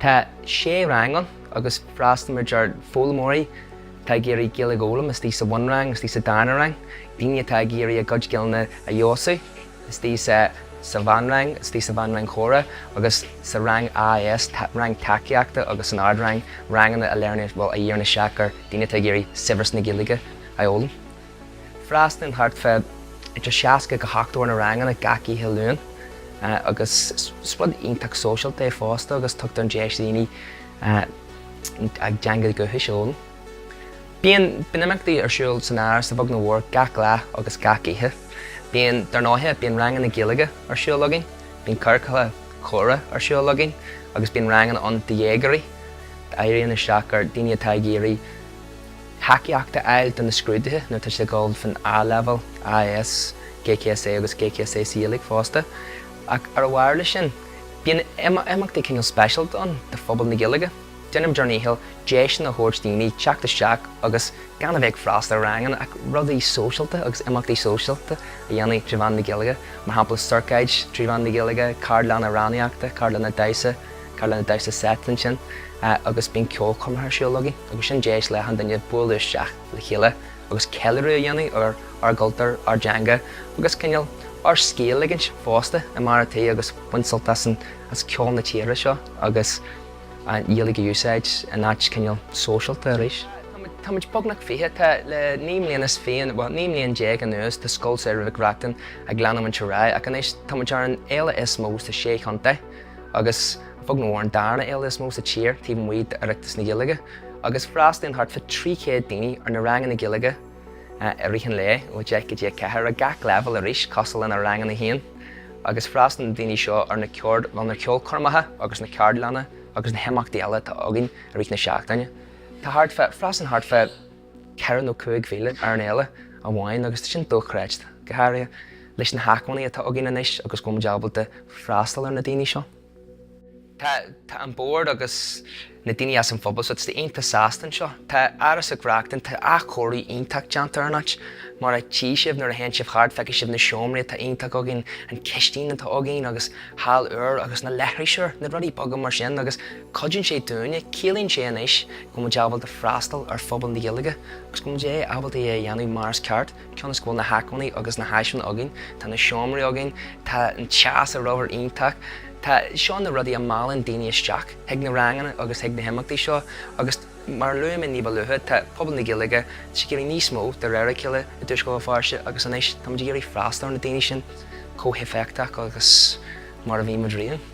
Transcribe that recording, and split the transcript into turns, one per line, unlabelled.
Tá sé rang ann agus freastalaíonn muid ar foghlaimeoirí atá ag iarraidh Gaeilge a fhoghlaim istigh sa bhunrang, istigh sa darna rang, daoine atá ag iarraidh a gcuid Gaeilge a fheabhsú istigh sa sa mheánrang, istigh sa mheánrang chomhrá agus sa rang AS, rang tacaíochta agus san ardrang, ranganna a léiríonn, bhuel, a dhíríonn isteach ar daoine atá ag iarraidh saibhreas na Gaeilge a fhoghlaim. Freastalaíonn thart fá idir 60 go 70 ar na ranganna gach oíche Luain agus is rud iontach sóisialta é fosta agus tugtar an deis do dhaoine a dteanga dhúchais a fhoghlaim. Bíonn imeachtaí ar siúl san Áras beagnach ó mhór gach lá agus gach oíche. Bíonn, dar ndóigh, bíonn ranganna Gaeilge ar siúl againn, bíonn ciorcail chomhrá ar siúl againn agus bíonn ranganna ann do dhéagóirí a dhíríonn isteach ar dhaoine atá ag iarraidh, thacaíocht a fháil do na scrúduithe nuair atá siad ag dul fan A-Leibhéal, AS, GCSE agus GCSE uilig fosta. Ach ar a bharr leis sin, bíonn imeachtaí cineál speisialta ann do phobal na Gaeilge. Déanaimid ár ndícheall deiseanna a thabhairt do dhaoine teacht isteach agus gan a bheith ag freastal ar ranganna ach rudaí sóisialta agus imeachtaí sóisialta a dhéanamh trí mheán na Gaeilge, mar shampla, ciorcaid trí mheán na Gaeilge, ceardlanna amhránaíochta, ceardlanna damhsa. Ceardlanna damhsa seit ansin agus bíonn ceolchoirmeacha ar siúl againn agus sin deis le achan duine bualadh isteach le chéile agus ceiliúradh a dhéanamh ar ár gcultúr, ár dteanga agus cineál ár scíth a ligint fosta i mbarr an tí agus baint sult as an, as ceol na tíre seo agus an Ghaeilge a úsáid in áit cineál sóisialta arís. Tá muid beagnach fiche, tá le naoi mbliana is fiche, bhuel naoi mbliana déag anuas tá Scoil Samhraidh Mhic Reachtain ag leanamhaint ar aghaidh ach anois tá muid ar an fhéile is mó sa sé chontae. agus chóir a bheith an darna fhéile is mó sa tír taobh amuigh d'Oireachtas na Gaeilge agus freastalaíonn thart fa 300 daoine ar na ranganna Gaeilge i rith an lae ó 10 go dtí 4 ar gach leibhéal arís cosúil leis na ranganna féin agus freastalaíonn na daoine seo ar na ceard ar na ceolchoirmeacha agus na ceardlanna agus na himeachtaí eile atá againn i rith na seachtaine. Tá thart fá, freastalaíonn thart fa, ceithre nó cúig mhíle ar an fhéile amháin agus tá sin dochreidte, go háirithe leis na hacmhainní atá againn anois agus go bhfuil muid ábalta freastal ar na daoine seo. Tá an bord agus na daoine as an phobal thar a bheith iontach sásta anseo. Tá Áras Mhic Reachtain, tá athchóiriú iontach déanta ar an áit. Mar a tchí sibh nuair a théann sibh thart feicfidh sibh na seomraí atá iontach againn, an chistin atá againn agus halla úr agus na leithris úr, na rudaí beaga mar sin agus, Cuidíonn sé dúinne, ciallaíonn sé anois go bhfuil muid ábalta freastal ar phobal na Gaeilge agus go bhfuil muid ábalta é a dhéanamh mar is ceart cionn is go bhfuil na hacmhainní agus na háiseanna againn, tá na seomraí againn, tá an teas ag obair iontach, tá, seo na rudaí a mheallann daoine isteach chuig na ranganna agus chuig na himeachtaí seo agus mar a luaigh mé níba luaithe tá pobal na Gaeilge, tá siad ag iarraidh níos mó, de réir a chéile, i dtuaisceart Bhéal Feirste agus anois tá muid ag iarraidh freastal ar na daoine sin chomh héifeachtach agus mar a bhí muid riamh.